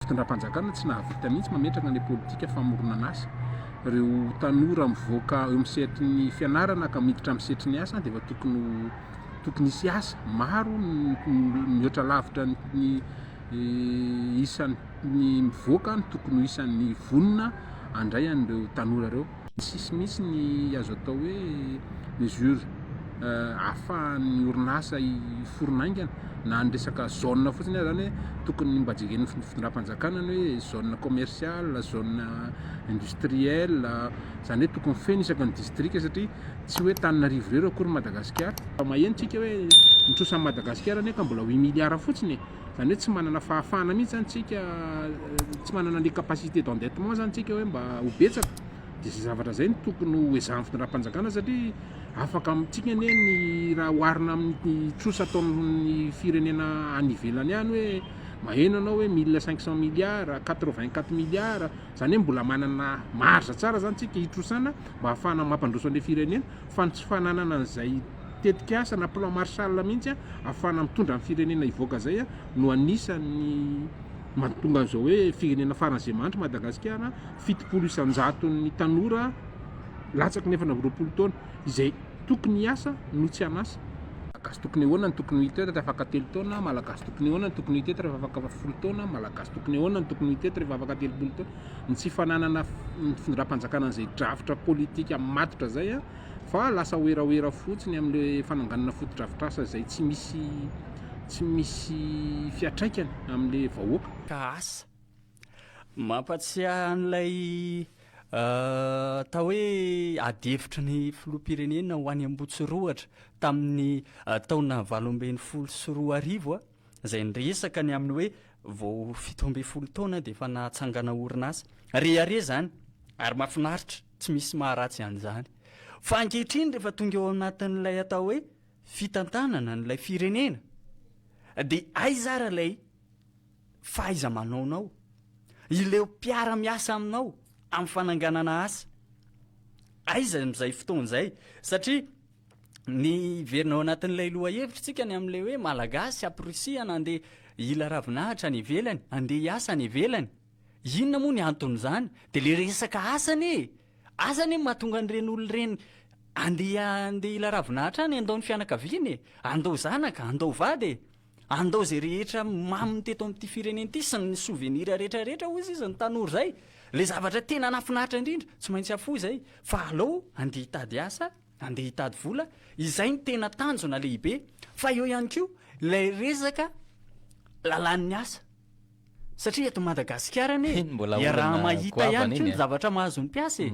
Fitondram-panjakana tsy nahavita mihitsy mametraka ny politika famoronan'asa. Ireo tanora mivoaka eo amin'ny sehatry ny fianarana ka miditra amin'ny sehatry ny asa dia efa tokony ho tokony hisy asa. Maro mihoatra lavitra ny isan'ny mivoaka no tokony ho isan'ny vonona handray an'ireo tanora ireo. Tsisy mihitsy ny azo atao hoe mesure ahafahan'ny orinasa hiforona haingana na ny resaka zone fotsiny aza zany hoe tokony mba jeren'ny fitondram-panjakana ny hoe zone commerciale, zone industrielle, izany hoe tokony feno isaky ny distrika satria tsy hoe Antananarivo irery akory Madagasikara. Maheno tsika hoe ny trosan'i Madagasikara anie ka mbola huit milliards fotsiny e! Izany hoe tsy manana fahafahana mihitsy izany isika, tsy manana ny capacité d'endettement izany isika hoe mba ho betsaka. Dia izay zavatra izay no tokony ho ezahin'ny fitondram-panjakana satria afaka amintsika anie ny raha oharina amin'ny trosa ataon'ny firenena any ivelany any hoe maheno ianao hoe mille cinq cent milliards, quatre vingt quatre milliards, izany hoe mbola manana marge tsara izany isika hitrosana mba hahafahana mampandroso an'ilay firenena. fa ny tsy fananana an'izay tetikasa na plan Marshall mihitsy ahafahana mitondra ny firenena hivoaka izay no anisan'ny mahatonga an'izao hoe firenena farany izay mahantra Madagasikara, fitopolo isan-jaton'ny tanora latsaky ny efatra amby roapolo taona izay tokony hiasa no tsy an'asa. Malagasy tokony ahoana no tokony ho hita eto rehefa afaka telo taona? Malagasy tokony ahoana no tokony ho hita eto rehefa afaka folo taona? Malagasy tokony ahoana no tokony ho hita eto rehefa afaka telopolo taona? ny tsy fananana ny findram-panjakana an'izay drafitra politika matotra izay fa lasa werawera fotsiny amin'ilay fananganana fotodrafitrasa izay tsy misy tsy misy fiatraikany amin'ilay vahoaka. Ka asa. Mampatsiahy an'ilay atao hoe ady hevitry ny filoham-pirenena ho any Ambohitsorohatra tamin'ny taona valo ambin'ny folo sy roa arivo aho. izay niresaka ny amin'ny hoe vao fito ambin'ny folo taona dia efa nahatsangana orinasa. Rehareha izany ary mahafinaritra, tsy misy maharatsy an'izany. Fa ankehitriny rehefa tonga eo anatin'ilay atao hoe fitantanana an'ilay firenena dia aiza ary ilay fahaiza-manaonao, ileo mpiara-miasa aminao amin'ny fananganana asa? Aiza amin'izay fotoana izay? Satria ny hiverina ao anatin'ilay lohahevitsika ny amin'ilay hoe malagasy amporisihana andeha hila ravinahitra any ivelany, andeha hiasa any ivelany. Inona moa ny anton'izany? Dia ilay resaka asa anie e! Asa anie no mahatonga an'ireny olona ireny andeha andeha hila ravinahitra any, handao ny fianakaviany e! Handao zanaka, handao vady e! Handao izay rehetra maminy teto amin'ity firenena ity sy ny sovenira rehetra rehetra hoy izy izy ny tanora izay. Ilay zavatra tena nahafinaritra indrindra, tsy maintsy hafoy izay fa alao andeha hitady asa Andeha hitady vola, izay no tena tanjona lehibe fa eo ihany koa ilay resaka lalàn'ny asa satria eto Madagasikara anie iaraha-mahita ihany koa ny zavatra mahazo ny mpiasa e.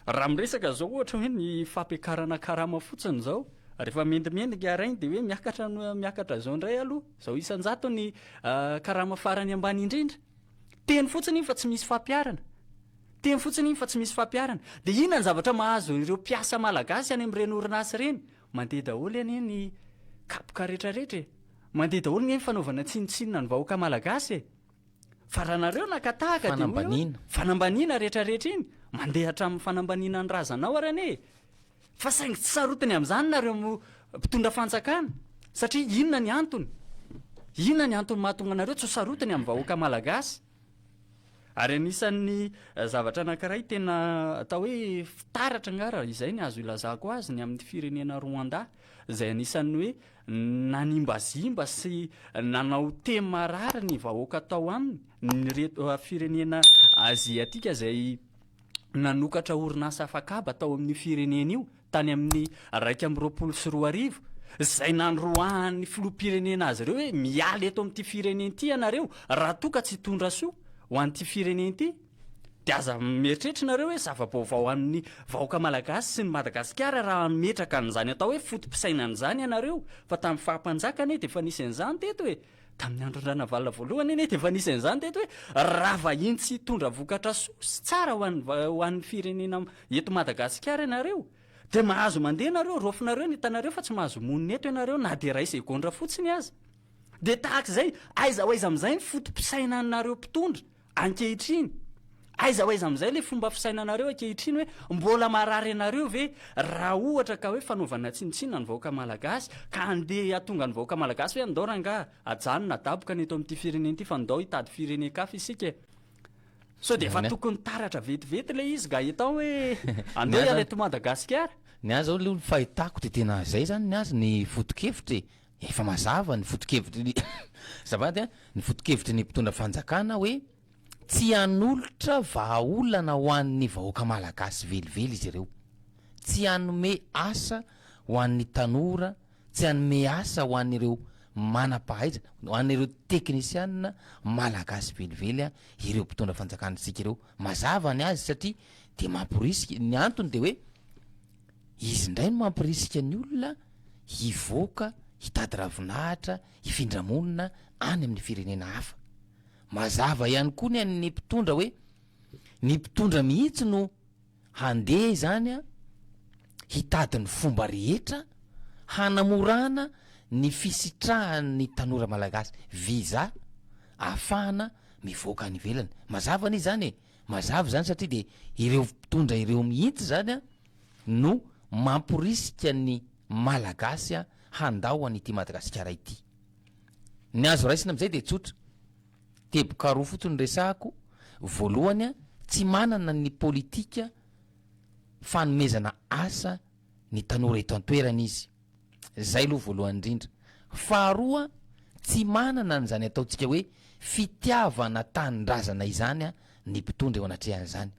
Raha miresaka izao ohatra hoe ny fampiakarana karama fotsiny izao, rehefa mendimendy ny araigny dia hoe miakatra miakatra izao indray aloha, izao isan-jato ny karama farany ambany indrindra. Teny fotsiny iny fa tsy misy fampiharana. Teny fotsiny iny fa tsy misy fampiharana. Dia inona ny zavatra mahazo ireo mpiasa malagasy any amin'ireny orinasa ireny? Mandeha daholo anie ny kapoka retraretra e! Mandeha daholo nge ny fanaovana tsinontsinona ny vahoaka malagasy e! Fa raha nareo naka tahaka dia hoy aho, fanambaniana retraretra iny, mandeha hatramin'ny fanambaniana ny razanao ary anie e! Fa saingy tsy sarotiny amin'izany nareo mpitondra fanjakana, satria inona ny antony? Inona ny antony mahatonga anareo tsy ho sarotiny amin'ny vahoaka malagasy? Ary anisan'ny zavatra anankiray tena atao hoe fitaratra angaha raha izay ny azo ilazako azy ny amin'ny firenena Rwanda izay anisan'ny hoe nanimbazimba sy nanao tena marary ny vahoaka tao aminy ny reto firenena aziatika izay nanokatra orinasa afakaba tao amin'io firenena io tany amin'ny iraika amby roapolo sy roa arivo, izay nandroahan'ny filoham-pirenena azy ireo hoe miala eto amin'ity firenena ity ianareo raha toa ka tsy hitondra soa ho an'ity firenena ity, dia aza mieritreritra ianareo hoe zava-baovao amin'ny vahoaka malagasy sy ny Madagasikara raha hametraka an'izany atao hoe foto-pisainana izany ianareo, fa tamin'ny faha-mpanjaka anie dia efa nisy an'izany teto e! Tamin'ny andron-dRanavalona voalohany anie dia efa nisy an'izany teto hoe raha vahiny tsy hitondra vokatra soa sy tsara ho an'ny ho an'ny firenena eto Madagasikara ianareo dia mahazo mandeha ianareo, raofinareo ny tanareo fa tsy mahazo monina eto ianareo na dia iray segondra fotsiny aza. Dia tahaka izay, aiza ho aiza amin'izay ny foto-pisainanareo mpitondra? Ankehitriny, aiza ho aiza amin'izay ilay fomba fisainanareo ankehitriny hoe mbola marary anareo ve raha ohatra ka hoe fanaovana tsinontsinona ny vahoaka malagasy ka andeha hatonga ny vahoaka malagasy hoe andao rangaha ajanona adaboka ny eto amin'ity firenena ity fa ndao hitady firenen-kafa isika e Sao dia efa tokony taratra vetivety ilay izy Gaëtan hoe andao hiala eto Madagasikara? Ny ahy zao aloha ny fahitako dia tena izay izany ny azy ny foto-kevitra e! Efa mazava ny fotokevitry ny azafady an, ny fotokevitry ny mpitondra fanjakana hoe tsy hanolotra vahaolana ho an'ny vahoaka malagasy velively izy ireo, tsy hanome asa ho an'ny tanora, tsy hanome asa ho an'ireo manam-pahaizana, ho an'ireo teknisianina malagasy velively an, ireo mpitondra fanjakana antsika ireo. Mazava ny azy satria dia mamporisika, ny antony dia hoe Izy indray no mampirisika ny olona hivoaka hitady ravinahitra, hifindra monina any amin'ny firenena hafa. Mazava ihany koa ny an'ny mpitondra hoe ny mpitondra mihitsy no handeha izany hitady ny fomba rehetra hanamorana ny fisitrahan'ny tanora malagasy visa ahafahana mivoaka any ivelany. Mazava anie izany e! Mazava izany satria dia ireo mpitondra ireo mihitsy izany no mamporisika ny Malagasy handao an'ity Madagasikara ity. Ny azo raisina amin'izay dia tsotra, teboka roa fotsiny resahako, voalohany tsy manana ny politika fanomezana asa ny tanora eto an-toerana izy, Izay aloha voalohany indrindra. Faharoa, tsy manana an'izany ataontsika hoe fitiavana tanindrazana izany ny mpitondra eo anatrehan'izany.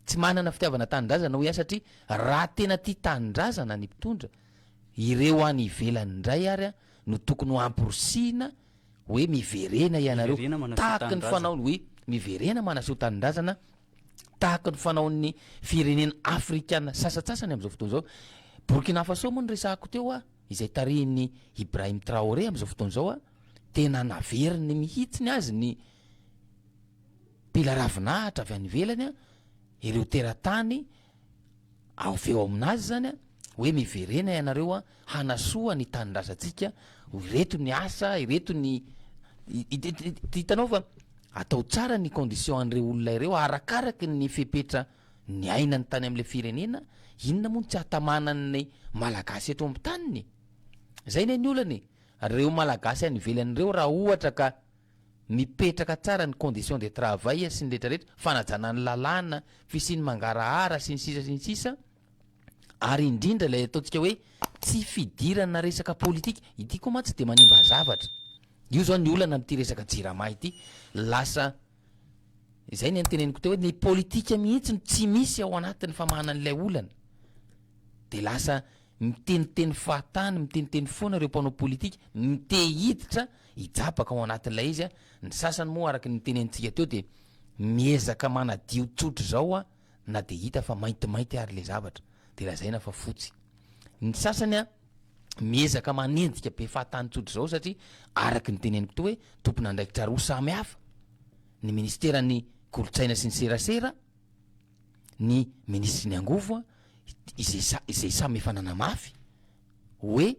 Tsy manana fitiavana tanindrazana hoy aho satria raha tena tia tanindrazana ny mpitondra, ireo any ivelany indray ary no tokony ho amporisihina hoe miverena ianareo, tahaky ny fanaony hoe miverena manaseho tanindrazana tahaka ny fanaon'ny firenena afrikana sasatsasany amin'izao fotoana izao. Burkina Faso moa no resahako teo a, izay tarihin'i Ibrahim Traoré amin'izao fotoana izao a, tena naveriny mihitsiny azy ny mpila ravinahitra avy any ivelany a, ireo teratany Avy eo amin'azy izany an, hoe miverena ianareo an, hanasoa ny tanindrazantsika, ireto ny asa, ireto ny, hitanao fa atao tsara ny condition an'ireo olona ireo arakaraky ny fepetra niainany tany amin'ilay firenena, inona moa no tsy hatamanan'ny malagasy eto amin'ny taniny e? Izay anie ny olana e! Ireo malagasy any ivelany ireo raha ohatra ka. Mipetraka tsara ny condition de travail sy ny rehetra rehetra, fanajana ny lalàna, fisian'ny mangarahara sy ny sisa sy ny sisa, ary indrindra ilay ataontsika hoe tsy fidirana resaka politika, ity koa mantsy tsy dia manimba zavatra, io zao ny olana amin'ity resaka jirama ity, lasa izay ny niteneniko teo hoe ny politika mihitsy no tsy misy ao anatin'ny famahana an'ilay olana, dia lasa Miteniteny fahatany, miteniteny foana ireo mpanao politika, mite hiditra, hijabaka ao anatin'ilay izy, ny sasany moa araka ny nitenenintsika teo dia miezaka manadio tsotra izao a, na dia hita fa maintimainty ary ilay zavatra dia lazaina fa fotsy. Ny sasany a, miezaka manenjika be fahatany tsotra izao satria araka ny teneniko teo hoe tompon'andraikitra roa samy hafa, ny ministeran'ny kolontsaina sy ny serasera, ny minisitry ny angovo a, izay sa- izay samy efa nanamafy hoe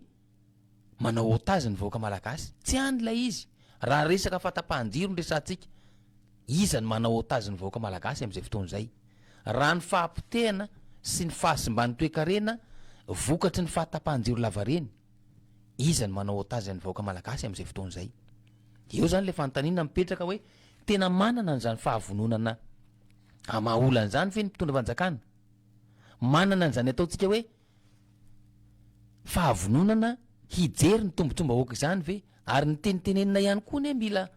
manao otage ny vahoaka malagasy, tsy any ilay izy, raha resaka fahatapahan-jiro no resahantsika, iza no manao otage ny vahoaka malagasy amin'izay fotoana izay? Raha ny fahapotehana sy ny fahasimban'ny toekarena vokatry ny fahatapahan-jiro lavareny, Iza no manao otage ny vahoaka malagasy amin'izay fotoana izay? Dia eo izany ilay fanontaniana mipetraka hoe tena manana an'izany fahavononana hamaha olana izany ve ny mpitondra fanjakana? Manana an'izany ataontsika hoe fahavononana hijery ny tombontsoam-bahoaka izany ve? Ary ny tenitenenina ihany koa anie mila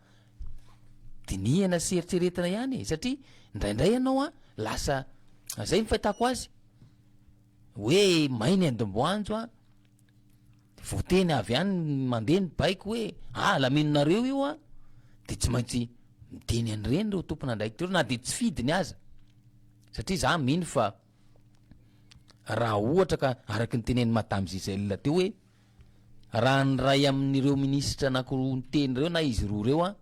dinihana sy eritreretina ihany e! Satria indraindray ianao an, lasa, izay ny fahitako azy, hoe may ny andomboanjo a, de voateny avy any mandeha ny baiko hoe ah lamininareo io a, de tsy maintsy miteny an'ireny reo tompon'andraikitra reo na de tsy fidiny aza, satria za mino fa raha ohatra ka araky ny tenenin'i madame Gisèle teo hoe raha ny ray amin'ireo minisitra anakiroa niteny reo na izy roa reo a,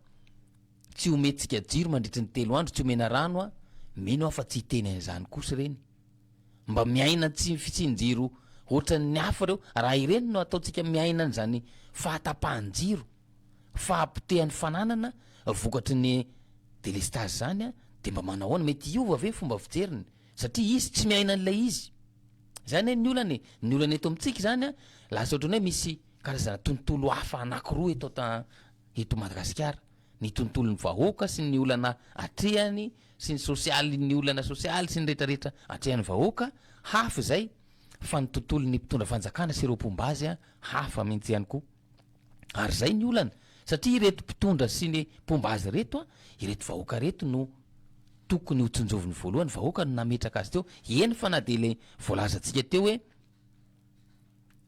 tsy omentsika jiro mandritry ny telo andro, tsy omena rano a, mino aho fa tsy hiteny an'izany kosa ireny. Mba miaina tsy fisian-jiro hoatran'ny hafa ireo, raha ireny no ataontsika miaina an'izany fahatapahan-jiro, fahapotehan'ny fananana vokatry ny delestazy izany dia mba manahoana? Mety hiova ve ny fomba fijeriny? Satria izy tsy miaina an'ilay izy. Izany anie ny olana e! Ny olana eto amintsika izany an, lasa ohatran'ny hoe misy karazana tontolo hafa anankiroa eto an, eto Madagasikara. ny tontolon'ny vahoaka sy ny olana atrehany sy ny sosialy ny olana sosialy sy ny rehetra rehetra atrehan'ny vahoaka hafa izay fa ny tontolon'ny mpitondra fanjakana sy ireo mpomba azy an hafa mintsy ihany koa ary zay ny olana satria ireto mpitondra sy ny mpomba azy reto an ireto vahoaka reto no tokony ho tsinjoviny voalohany vahoaka no nametraka azy teo eny fa na dia ilay voalazantsika teo hoe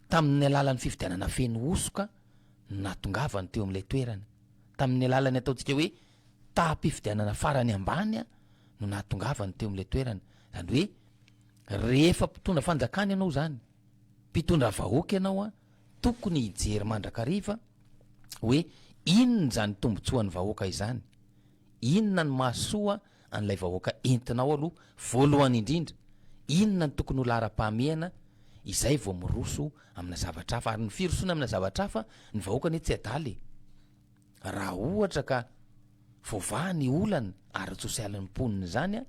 tamin'ny alalan'ny fifidianana feno hosoka no nahatongavany teo amin'ilay toerana, tamin'ny alalan'ny ataontsika hoe taham-pifidianana farany ambany no nahatongavany teo amin'ilay toerana, zany hoe rehefa mpitondra fanjakana ianao zany, mpitondra vahoaka ianao an, tokony hijery mandrakariva hoe inona izany tombotsoan'ny vahoaka izany, Inona no mahasoa an'ilay vahoaka entinao aloha voalohany indrindra, inona no tokony ho laharam-pahamehana, izay vao miroso amina zavatra hafa, ary ny firosoana amina zavatra hafa, ny vahoaka anie tsy adala e! raha ohatra ka voavaha ny olana ara-tsosialin'ny mponina izany an,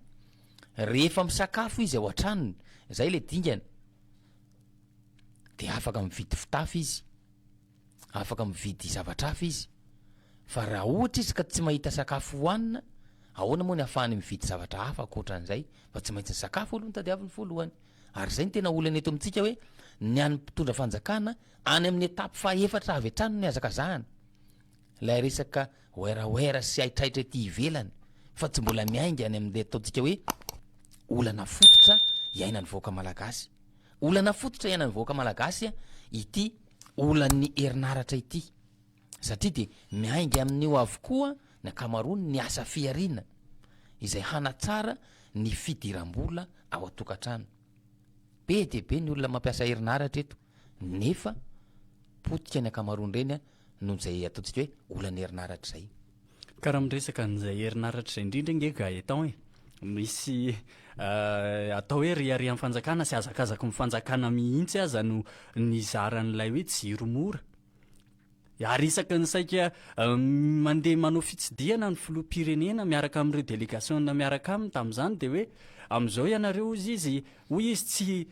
rehefa misakafo izy ao an-tranony, izay ilay dingana, dia afaka mividy fitafy izy, afaka mividy zavatra hafa izy, fa raha ohatra izy ka tsy mahita sakafo hohanina, ahoana moa ny hahafahany mividy zavatra hafa ankoatran'izay, fa tsy maintsy ny sakafo aloha no tadiaviny voalohany. Ary izay no tena olana eto amintsika hoe, ny an'ny mpitondra fanjakana, any amin'ny étape fahaefatra avy hatrany no nihazakazahana, ilay resaka werawera sy haitraitra ety ivelany, fa tsy mbola miainga any amin'ilay ataontsika hoe olana fototra iainan'ny vahoaka malagasy. Olana fototra iainan'ny vahoaka malagasy ity. olan'ny herinaratra ity satria dia miainga amin'io avokoa ny ankamaroany ny asa fihariana izay hanatsara ny fidiram-bola ao an-tokantrano. Be dia be ny olona mampiasa herinaratra eto nefa potika ny ankamaroan'ireny noho izay ataontsika hoe olan'ny herinaratra izay. Ka raha miresaka an'izay herinaratra izay indrindra ange Gaëtan e! misy atao hoe reharehan'ny fanjakana sy hazakazaky ny fanjakana mihitsy aza no nizara an'ilay hoe jiro mora. Ary isaky ny saika mandeha manao fitsidihana ny filoham-pirenena miaraka amin'ireo délégation miaraka aminy tamin'izany dia hoe amin'izao ianareo hozy izy, hoy izy tsy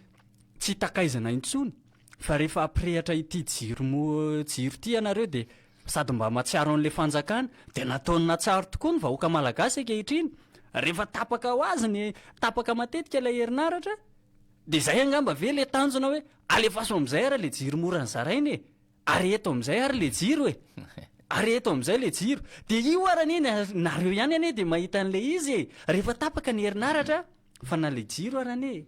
tsy takaizina intsony fa rehefa hampirehatra ity jiro mo- jiro ity ianareo dia Sady mba matsiaro an'le fanjakana dia nataony natsaro tokoa ny vahoaka malagasy ankehitriny rehefa tapaka ho azy ny tapaka matetika ilay herinaratra dia izay angamba ve le tanjona hoe alefaso amin'izay ary le jiro mora nozaraina e! ary eto amin'izay ary le jiro e! ary eto amin'izay le jiro dia io ary anie nareo ihany anie dia mahita an'le izy e! rehefa tapaka ny herinaratra Fa na le jiro ary anie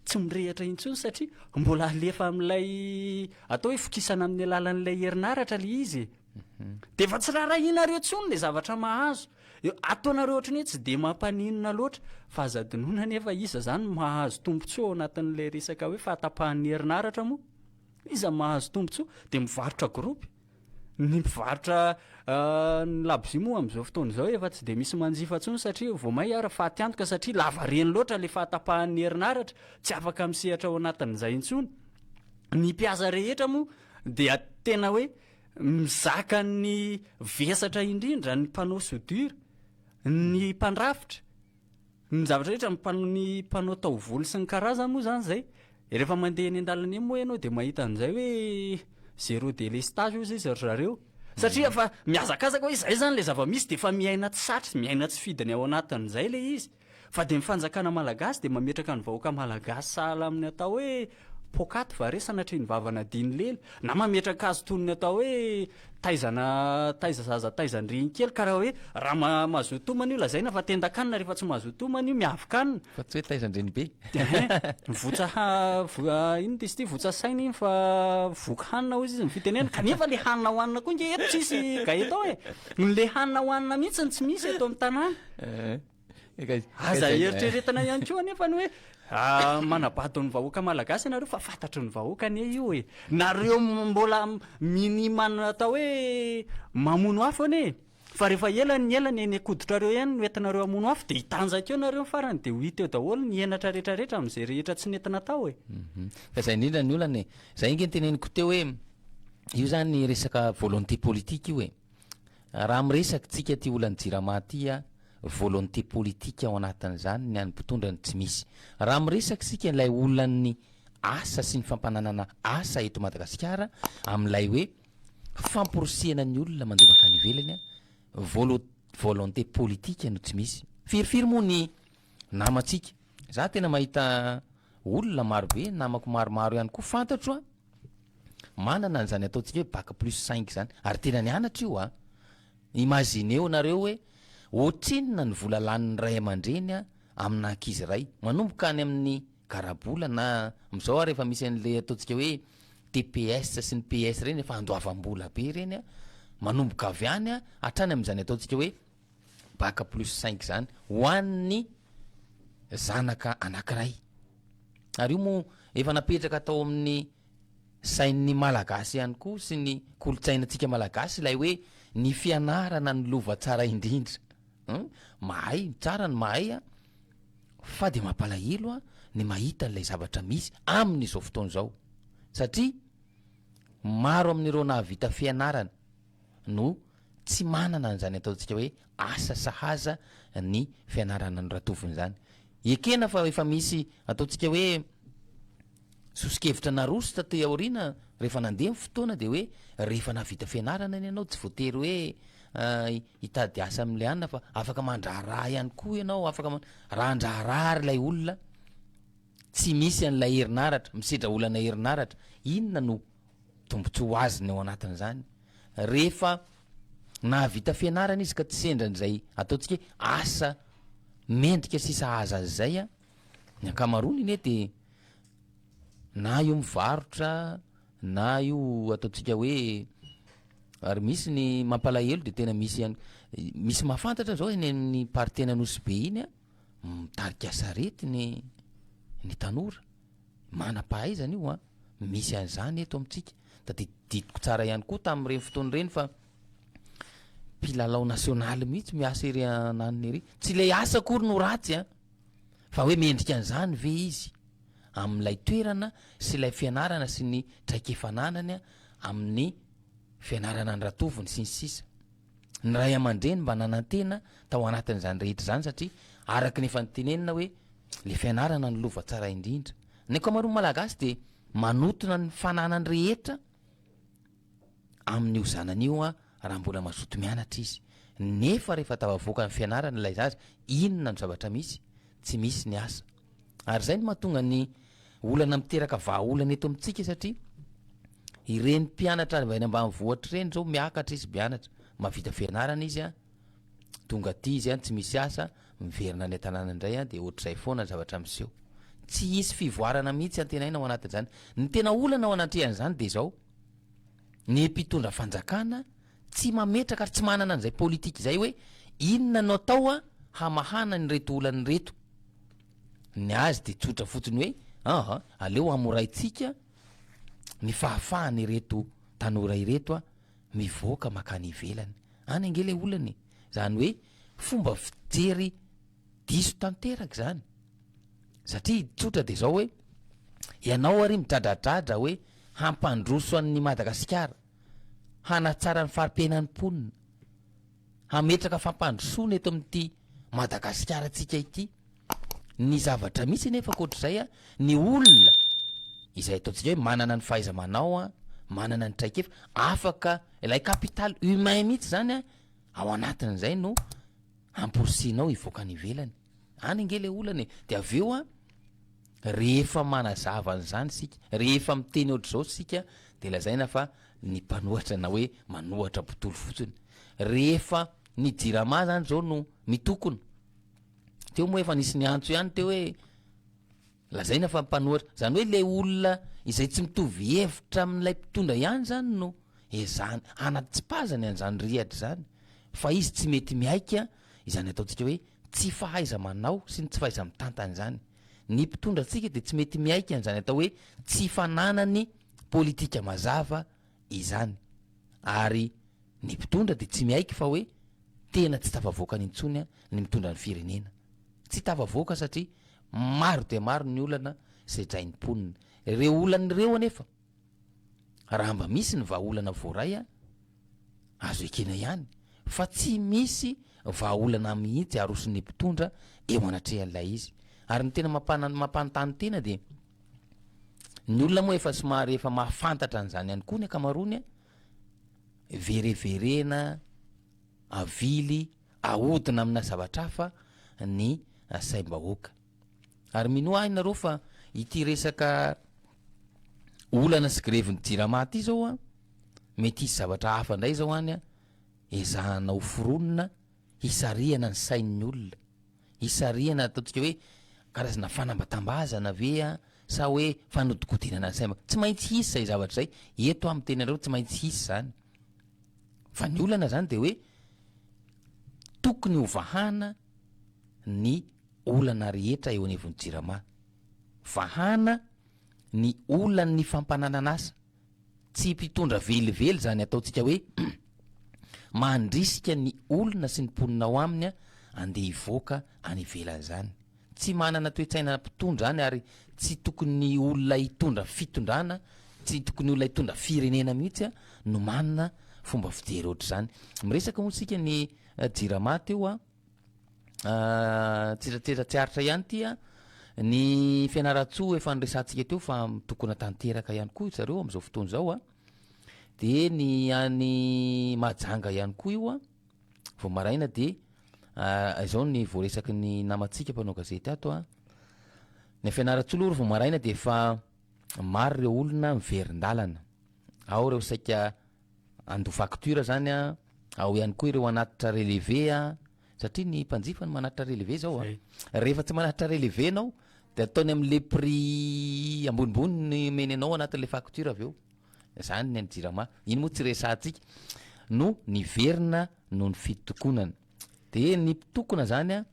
tsy mirehatra intsony satria mbola alefa amin'ilay atao hoe fokisana amin'ny alalan'ilay herinaratra le izy e. Mhm. Dia efa tsy raharahianareo intsony le zavatra mahazo. Ataonareo ohatry ny hoe tsy dia mampaninona loatra fa aza adinoina anefa iza izany no mahazo tombontsoa ao anatin'ilay resaka hoe fahatapahan'ny herinaratra moa? Iza no mahazo tombontsoa? Dia mivarotra gropy. Ny mpivarotra ny labozia moa amin'izao fotoana izao efa tsy dia misy manjifa intsony satria vao mainka ary faty antoka satria lavareny loatra ilay fahatapahan'ny herinaratra, tsy afaka misehatra ao anatin'izay intsony. Ny mpiasa rehetra moa dia tena hoe mizaka ny vesatra indrindra ny mpanao soudure, ny mpandrafitra. Ny zavatra rehetra ny mpanao ny mpanao taovolo sy ny karazany moa zany zay de rehefa mandeha eny an-dalana eny moa ianao de mahita an'izay hoe zero délestage hozy izy ry zareo satria efa mihazakazaka hoe izay zany le zava-misy de efa miaina tsy satry miaina tsy fidiny ao anatin'izay le izy fa de ny fanjakana malagasy de mametraka ny vahoaka malagasy sahala amin'ny atao hoe Poakaty va re sanatria ny vava nadino lely? Na mametraka azy toy ny atao hoe taizana taiza zaza taizan-dreny kely ka raha hoe raha ma, mahazoa tomany io lazaina fa tendan-kanina rehefa tsy mahazoa tomany io miavy kanina. Fa tsy hoe taizan-dreny be. Ehe, votsa ha, vo, a, inona diso ity, votsa saina iny fa voky hanina hozy izy ny fitenenana, kanefa ilay hanina hohanina koa nge eto tsisy gaeton e! Ilay hanina hohanina mihitsy no tsy misy eto amin'ny tanàna. Ehe. Aza eritreretina ihany koa anefa ny hoe manabado ny vahoaka malagasy ianareo fa fantatry ny vahoaka anie io e! Nareo mbola minimana atao hoe mamono afo anie e! Fa rehefa ela ny ela ny eny an-koditrareo eny no entinareo hamono afo dia hitanjaka eo nareo ny farany dia ho hita eo daholo ny henatra rehetra rehetra amin'izay rehetra tsy nety natao e! Fa izay indrindra ny olana e! Izay ange ny teneniko teo hoe io izany resaka volonté politique io e! Raha miresaka tsika ty olan'ny jirama ty a, volonté politique ao anatin'izany ny an'ny mpitondra no tsy misy. Raha miresaka isika ilay olan'ny asa sy ny fampananana asa eto Madagasikara amin'ilay hoe famporisihana ny olona mandeha mankany ivelany a, volo- volonté politique no tsy misy. Firifiry moa ny namantsika? Za tena mahita olona marobe, namako maromaro ihany koa fantatro a. Manana an'izany ataontsika hoe bac plus cinq izany ary tena nianatra io an! Imaginez-o nareo hoe ohatrinona ny vola lanin'ny ray aman-dreny amina ankizy iray manomboka any amin'ny garabola na amin'izao ary efa misy an'ilay ataontsika hoe tps sy ny PS ireny efa andoavam-bola be ireny an! manomboka avy any an! hatrany amin'izany ataontsika hoe Bac plus cinq zany ho an'ny zanaka anankiray. Ary io moa efa napetraka tao amin'ny sain'ny Malagasy ihany koa sy ny kolontsainantsika Malagasy ilay hoe ny fianarana no lova tsara indrindra. Hum, mahay, tsara ny mahay an, fa dia mampalahelo an ny mahita an'ilay zavatra misy amin'izao fotoana izao satria maro amin'ireo nahavita fianarana, no tsy manana an'izany ataontsika hoe asa sahaza ny fianarana an'i Ratovony izany. Ekena fa efa misy ataontsika hoe soso-kevitra naroso taty aoriana rehefa nandeha ny fotoana dia hoe rehefa nahavita fianarana anie ianao tsy voatery hoe hitady asa amin'ilay anona fa afaka mandraharaha ihany koa ianao, afaka man- raha handraharaha ary ilay olona. Tsy misy an'ilay herinaratra, misedra olana herinaratra, inona no tombotsoa azony ao anatin'izany? Rehefa nahavita fianarana izy ka tsy sendra an'izay ataontsika hoe asa mendrika sy sahaza azy izay an, ny ankamaroany anie dia na io mivarotra na io ataontsika hoe, ary misy ny mampalahelo dia tena misy ihany, misy mahafantatra izao eny amin'ny partie an'Anosibe iny an, mitarika sarety ny ny tanora, manam-pahaizana io an, misy an'izany eto amintsika, tadididiko tsara ihany koa tamin'ireny fotoana ireny fa mpilalao nasionaly mihitsy miasa ery ananona ery, tsy ilay asa akory no ratsy an, fa hoe mendrika an'izany ve izy amin'ilay toerana sy ilay fianarana sy ny traikefa ananany amin'ny fianarana an-dratovony sy ny sisa. Ny ray aman-dreny mba nanantena tao anatin'izany rehetra izany satria araka ny efa notenenina hoe le fianarana no lova tsara indrindra. Ny ankamaroan'ny Malagasy dia manotona ny fananany rehetra amin'io zanany io raha mbola mazoto mianatra izy nefa rehefa tafavoaka ny fianarana ilay zaza inona no zavatra misy? Tsy misy ny asa. Ary izay no mahatonga ny olana miteraka vahaolana eto amintsika satria ireny mpianatra avy any ambanivohitra ireny izao miakatra izy mianatra, mahavita fianarana izy an, tonga aty izy an, tsy misy asa, miverina any an-tanàna indray an, dia ohatr'izay foana ny zavatra miseho. Tsy hisy fivoarana mihitsy antenaina ao anatin'izany. Ny tena olana ao anatrehan'izany dia izao, ny mpitondra fanjakana, Tsy mametraka ary tsy manana an'izay politika izay hoe inona no atao hamahana an'ireto olana ireto. Ny azy dia tsotra fotsiny hoe aa aleo hamoraintsika ny fahafahan'ireto tanora ireto mivoaka makany ivelany. Any ange ilay olana e! Izany hoe fomba fijery diso tanteraka izany. Satria tsotra dia izao hoe ianao ary midradradradra hoe hampandroso an'i Madagasikara. hanatsara ny fari-piainan'ny mponina, hametraka fampandrosoana eto amin'ity Madagasikaratsika ity. Ny zavatra misy anefa ankoatr'izay an, ny olona izay ataontsika hoe manana ny fahaiza-manao an, manana ny traikefa, afaka ilay capital humain mihitsy izany an, ao anatin'izay no amporisihinao hivoaka any ivelany. Any ange le olana e, de avy eo an, rehefa manazava an'izany isika, rehefa miteny ohatr'izao isika de lazaina fa ny mpanohatra na hoe manohatra mpitory fotsiny, rehefa ny jirama zany zao no mitokona, teo moa efa nisy niantso ihany teo hoe, Lazaina fa mpanohatra, izany hoe ilay olona izay tsy mitovy hevitra amin'ilay mpitondra ihany izany no ezahany hanatsipazany an'izany rihatra izany fa izy tsy mety mihaika izany ataontsika hoe tsy fahaiza-manao sy ny tsy fahaiza-mitantana izany. Ny mpitondra antsika dia tsy mety mihaika an'izany atao hoe tsy fananany politika mazava izany ary ny mpitondra dia tsy miaiky fa hoe tena tsy tafavoakany intsony ny mitondra ny firenena. Tsy tafavoaka satria maro dia maro ny olana sedrain'ny mponina. Ireo olana ireo anefa raha mba misy ny vahaolana voaray azo ekena ihany fa tsy misy vahaolana mihitsy aroson'ny mpitondra eo anatrehan'ilay izy. Ary ny tena mampana-mampanontany tena dia. Ny olona moa efa somary efa mahafantatra an'izany ihany koa ny ankamaroany a, vereverena, avily, ahodina amina zavatra hafa ny saim-bahoaka. Ary minoa ahy nareo fa ity resaka olana sy grevin'ny jirama ity zao an, mety hisy zavatra hafa ndray zao any an, ezahana ho foronina Hisarihana ny sain'ny olona. Hisarihana ataontsika hoe karazana fanambatambazana ve sa hoe fanodinkodinana ny saina. Tsy maintsy hisy izay zavatra izay. Eto aho miteny anareo tsy maintsy hisy izany. Fa ny olana izany dia hoe tokony hovahana ny olana rehetra eo anivon'ny Jirama. Vahana ny olan'ny fampananana asa. Tsy mpitondra velively izany ataontsika hoe mandrisika ny olona sy ny mponina ao aminy andeha hivoaka any ivelany izany. Tsy manana toe-tsaina mpitondra any ary tsy tokony olona hitondra fitondrana, tsy tokony olona hitondra firenena mihitsy no manana fomba fijery ohatr'izany. Miresaka moa isika ny Jirama teo a! tsiratsira tsy aritra ihany ity an, ny Fianarantsoa efa niresahantsika teo fa mitokona tanteraka ihany koa zareo amin'izao fotoana izao an, dia ny any Mahajanga ihany koa io an, vao maraina dia izao ny voaresaky ny namantsika mpanao gazety ato an, ny Fianarantsoa aloha vao maraina dia efa maro ireo olona miverin-dalana, ao ireo saika handoa facture zany a, ao ihany koa ireo hanatitra relevé a, satria ny mpanjifa no manatitra relevé zao a, rehefa tsy manatitra relevé ianao de ataony amle prix ambonimbony ny omeny anao anatinle facture avy eo, zany ny an'ny jirama, iny moa tsy resahantsika no niverina noho ny fitokonana, de ny mpitokona zany a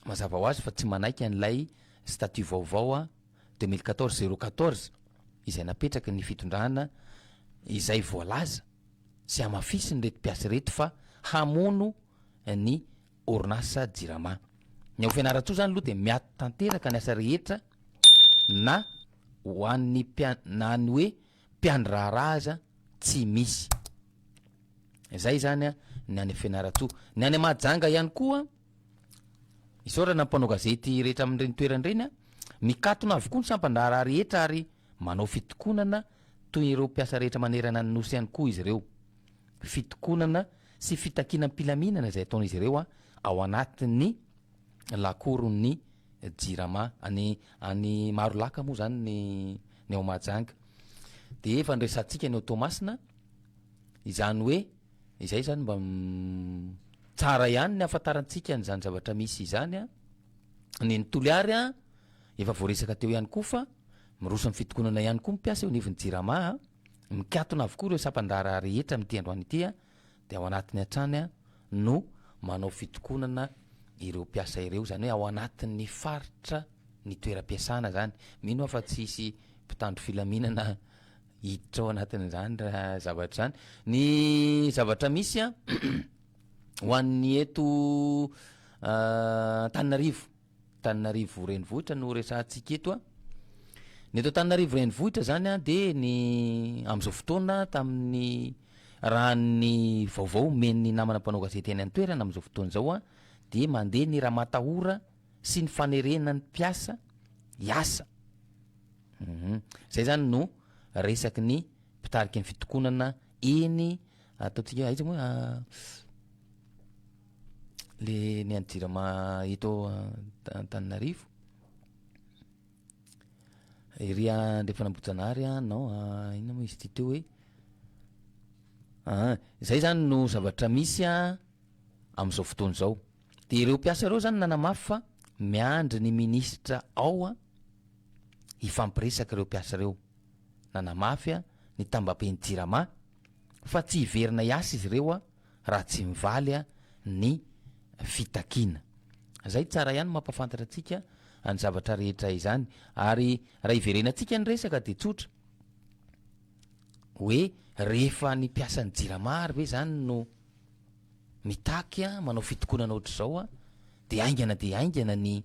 mazava ho azy fa tsy manaiky an'ilay statut vaovao a. deux mille quatorze zéro quatorze izay napetraky ny fitondrana izay voalaza sy hamafisin'ireto mpiasa ireto fa hamono ny orinasa Jirama. Ny ao Fianarantsoa izany aloha dia miato tanteraka ny asa rehetra na ho an'ny mpia- na ny hoe mpiandry raharaha aza tsy misy. Izay izany ny any Fianarantsoa. Ny any Mahajanga ihany koa Isaorana ny mpanao gazety rehetra amin'ireny toerana ireny an! Mikatona avokoa ny sampan-draharaha rehetra ary manao fitokonana toy ireo mpiasa rehetra manerana ny Nosy ihany koa izy ireo. Fitokonana sy fitakiana am-pilaminana izay ataon'izy ireo ao anatin'ny lakoron'ny Jirama any any Marolaka moa izany ny ny ao Mahajanga. Dia efa noresahantsika ny ao Toamasina izany hoe Izay zany mba tsara ihany ny afantarantsika an'izany zavatra misy izany an! Ny an'i Toliary an, efa voaresaka teo ihany koa fa miroso amin'ny fitokonana ihany koa ny mpiasa eo anivon'ny Jirama an! Mikatona avokoa ireo sampan-draharaha rehetra amin'ity androany ity an! Dia ao anatiny hatrany an no manao fitokonana ireo mpiasa ireo, izany hoe ao anatin'ny faritra ny toeram-piasana izany, mino aho fa tsy hisy mpitandro filaminana hiditra ao anatin'izany raha zavatra izany. Ny zavatra misy an, ho an'ny eto Antananarivo, Antananarivo renivohitra no resahantsika eto an, ny eto Antananarivo renivohitra izany an dia ny amin'izao fotoana tamin'ny raha ny vaovao omen'ny namana mpanao gazety any an-toerana amin'izao fotoana izao an dia mandeha ny ramatahora sy ny fanerena ny mpiasa hiasa. Humm. Izay izany no resaky ny mpitariky ny fitokonana eny ataontsika hoe aiza moa le ny an'ny jirama eto Antananarivo ery andrefana Ambohijanahary an non inona moa izy ity teo hoe aa zay zany no zavatra misy an amin'izao fotoana izao. Dia ireo mpiasa ireo zany nanamafy fa miandry ny minisitra ao an, hifampiresaka ireo mpiasa ireo. Nanamafy ny tambaben'ny Jirama fa tsy hiverina hiasa izy ireo raha tsy mivaly ny fitakiana. Izay tsara ihany mampahafantatra antsika ny zavatra rehetra izany. Ary raha iverenantsika ny resaka dia tsotra, hoe rehefa ny mpiasan'ny Jirama ary ve izany no Mitaky manao fitokonana ohatr'izao aho dia haingana dia haingana ny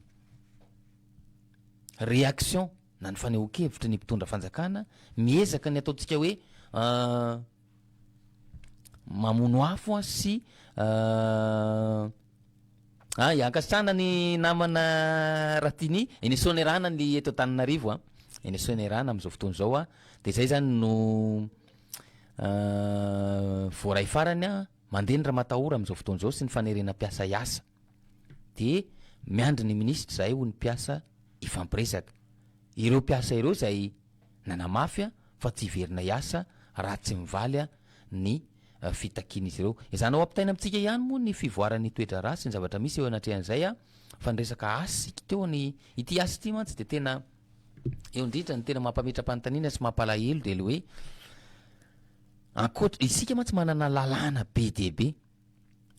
réaction na ny fanehoan-kevitry ny mpitondra fanjakana, miezaka ny ataontsika hoe mamono afo an sy ay ankasitrahana ny namana Ratini, eny Soanierana ny eto Antananarivo an, eny Soanierana amin'izao fotoana izao an, dia izay izany no. Voaray farany, mandeha ny ramatahora amin'izao fotoana izao sy ny fanerena mpiasa hiasa. Dia miandry ny minisitra izahay hoy ny mpiasa hifampiresaka. Ireo mpiasa ireo izay nanamafy fa tsy hiverina hiasa raha tsy mivaly ny fitakian'izy ireo. Ezahana ho ampitaina amintsika ihany moa ny fivoaran'ny toe-draharaha sy ny zavatra misy eo anatrehan'izay fa ny resaka asa isika teo, ity asa ity mantsy dia tena. Eo indrindra ny tena mampametra-panontaniana sy mampalahelo dia le hoe ankoatra isika mantsy manana lalàna be dia be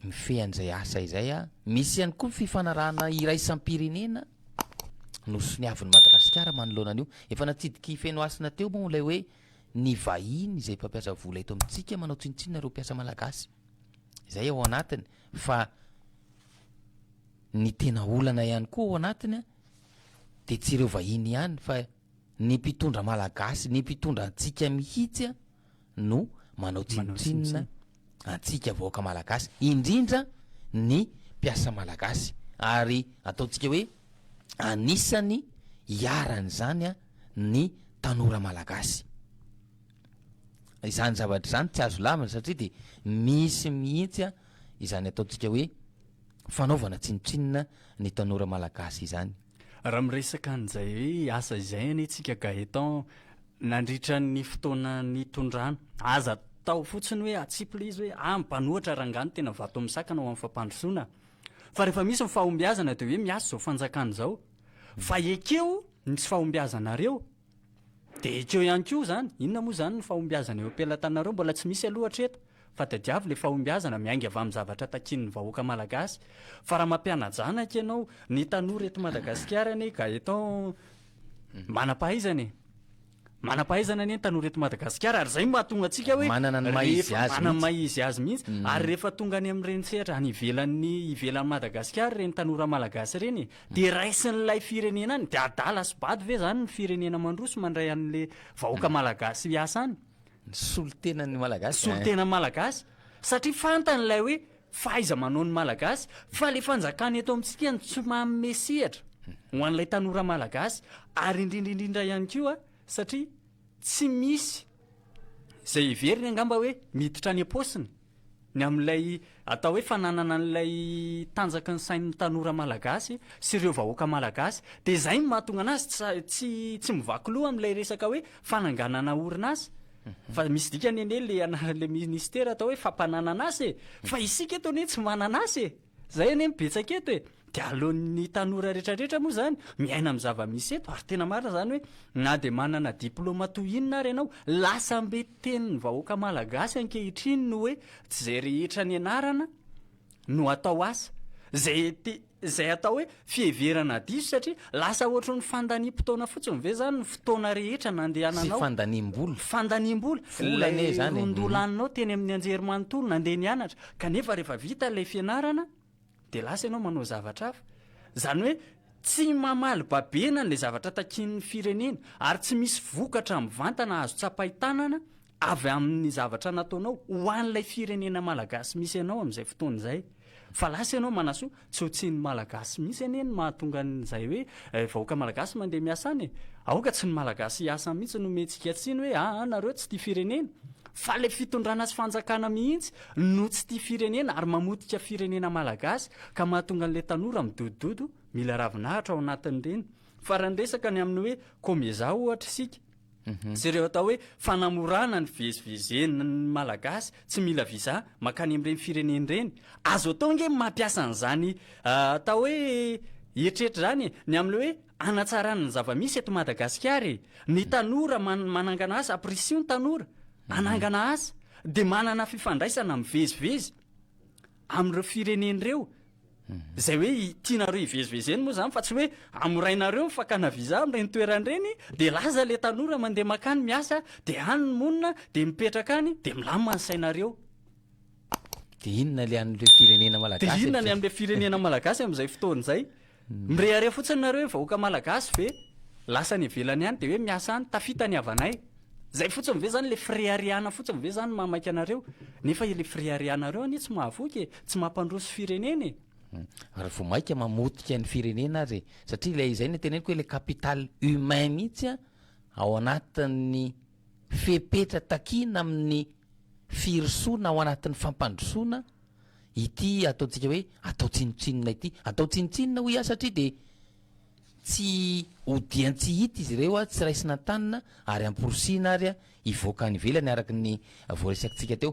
mifehy an'izay asa izay a, misy ihany koa ny fifanarahana iraisam-pirenena nosoniavin'i Madagasikara manoloana an'io. Efa natsidik'i Fenohasina teo moa ilay hoe ny vahiny izay mpampiasa vola eto amintsika manao tsinontsinona ireo mpiasa malagasy. Izay ao anatiny fa ny tena olana ihany koa ao anatiny de tsy ireo vahiny ihany fa ny mpitondra malagasy, ny mpitondra antsika mihitsy a no manao tsinontsinona antsika vahoaka malagasy, indrindra ny mpiasa malagasy ary ataontsika hoe anisany iharan'izany a ny tanora malagasy. Izany zavatra izany tsy azo lavina satria de misy mihitsy a izany ataontsika hoe fanaovana tsinontsinona ny tanora malagasy izany. Raha miresaka an'izay hoe asa izay anie tsika Gaëtan nandritra ny fotoana nitondrana, aza atao fotsiny hoe atsipy ilay izy hoe ah mpanohatra rangah no tena vato misakana ho amin'ny fampandrosoana fa rehefa misy ny fahombiazana dia hoe miasa izao fanjakana izao fa ekeo ny tsy fahombiazanareo Dia ekeo ihany koa izany, inona moa izany ny fahombiazana eo am-pelatananareo? Mbola tsy misy aloha hatreto, fa tadiavo ilay fahombiazana, miainga avy amin'ny zavatra takian'ny vahoaka malagasy. Fa raha mampiana-janaka ianao, ny tanora eto Madagasikara anie Gaëtan manam-pahaizana e! Manam-pahaizana anie ny tanora eto Madagasikara, ary izay no mahatonga antsika hoe Manana ny maha izy rehefa, azy manana ny mihitsy. maha izy azy mihitsy. Ary rehefa tonga any amin'ireny sehatra any ivelan'ny, ivelan'i Madagasikara ireny tanora malagasy ireny e, Dia raisin'ilay firenena any, dia adala sy bado ve izany ny firenena mandroso mandray an'le vahoaka malagasy hiasa any? Ny solontenan'ny malagasy eh. Solontenan'ny malagasy. Satria fantany ilay hoe fahaiza-manaon'ny malagasy, fa le fanjakana eto amintsika no tsy manome sehatra ho an'ilay tanora malagasy, ary indrindra indrindra ihany koa satria tsy misy izay heveriny angamba hoe miditra any am-paosiny. ny amin'ilay atao hoe fananana an'ilay tanjaky ny sain'ny tanora malagasy sy ireo vahoaka malagasy dia izay no mahatonga anazy tsy tsy mivaky loha amin'ilay resaka hoe fananganana orinasa fa misy dikany anie le ana le ministera atao hoe fampananana asa e fa isika eto anie tsy manana asa e Zay anie no betsaka eto e! Dia aleon'ny tanora rehetra rehetra moa zany miaina amin'ny zava-misy eto ary tena marina zany hoe na dia manana diploma toy inona ary ianao, lasambe tenin'ny vahoaka malagasy ankehitriny ny hoe tsy zay rehetra nianarana no atao asa. Zay te, zay atao hoe Fiheverana diso satria lasa ohatry ny fandaniam-potoana fotsiny ve izany ny fotoana rehetra nandehananao. Tsy fandaniam-bola. Fandaniam-bola. Vola anie izany e. Ilay roa-ndoha laninao teny amin'ny anjerimanontolo nandeha nianatra kanefa rehefa vita ilay fianarana dia lasa ianao manao zavatra hafa. Izany hoe tsy mamaly babena an'ilay zavatra takian'ny firenena ary tsy misy vokatra mivantana azo tsapain-tanana avy amin'ny zavatra nataonao ho an'ilay firenena malagasy misy anao amin'izay fotoana izay. Fa lasa ianao manasoa, tsy ho tsian'ny malagasy mihitsy anie ny mahatonga an'izay hoe vahoaka malagasy mandeha miasa any e! Aoka tsy ny malagasy hiasa any mihitsy no omentsika tsiny hoe aa nareo tsy tia firenena. Fa ilay fitondrana sy fanjakana mihitsy no tsy tia firenena ary mamotika firenena malagasy ka mahatonga an'ilay tanora midodododo mila ravinahitra ao anatin'ireny. Fa raha niresaka ny amin'ny hoe komezaha ohatra isika, Sy ireo atao hoe fanamorana ny fivezivezen'ny Malagasy tsy mila visa mankany amin'ireny firenena ireny. Azo atao ange ny mampiasa an'izany atao hoe eritreritra izany e! Ny amin'ilay hoe hanatsarana ny zava-misy eto Madagasikara e! Ny tanora man- manangana asa, aprisio ny tanora hanangana asa, dia manana fifandraisana mivezivezy. amin'ireo firenena ireo izay hoe tianareo hivezivezeny moa izany fa tsy hoe amorainareo ny fakana visa amin'ireny toerana ireny dia laza ilay tanora mandeha makany miasa dia any ny monina dia mipetraka any dia milamina ny sainareo Dia inona ilay an'ireo firenena malagasy? Dia inona ny amin'ilay firenena malagasy amin'izay fotoana izay? Mirehareha fotsiny nareo hoe vahoaka malagasy ve lasa any ivelany any de hoe miasa any, tafita ny havanay. Zay fotsiny ve zany le fireharehana fotsiny ve zany no maha maika anareo? Nefa le fireharehanareo anie tsy mahavoky e, tsy mampandroso firenena e. Ary vao maika mamotika ny firenena ary e. Satria ilay izay no teneniko hoe le capital humain mihitsy ao anatin'ny fepetra takina amin'ny firosoana ao anatin'ny fampandrosoana, ity ataontsika hoe atao tsinontsinona ity, atao tsinontsinona hoy aho satria dia tsy odian-tsy hita izy ireo, tsy raisina an-tanana ary amporisihina ary hivoaka any ivelany araka ny voaresakintsika teo.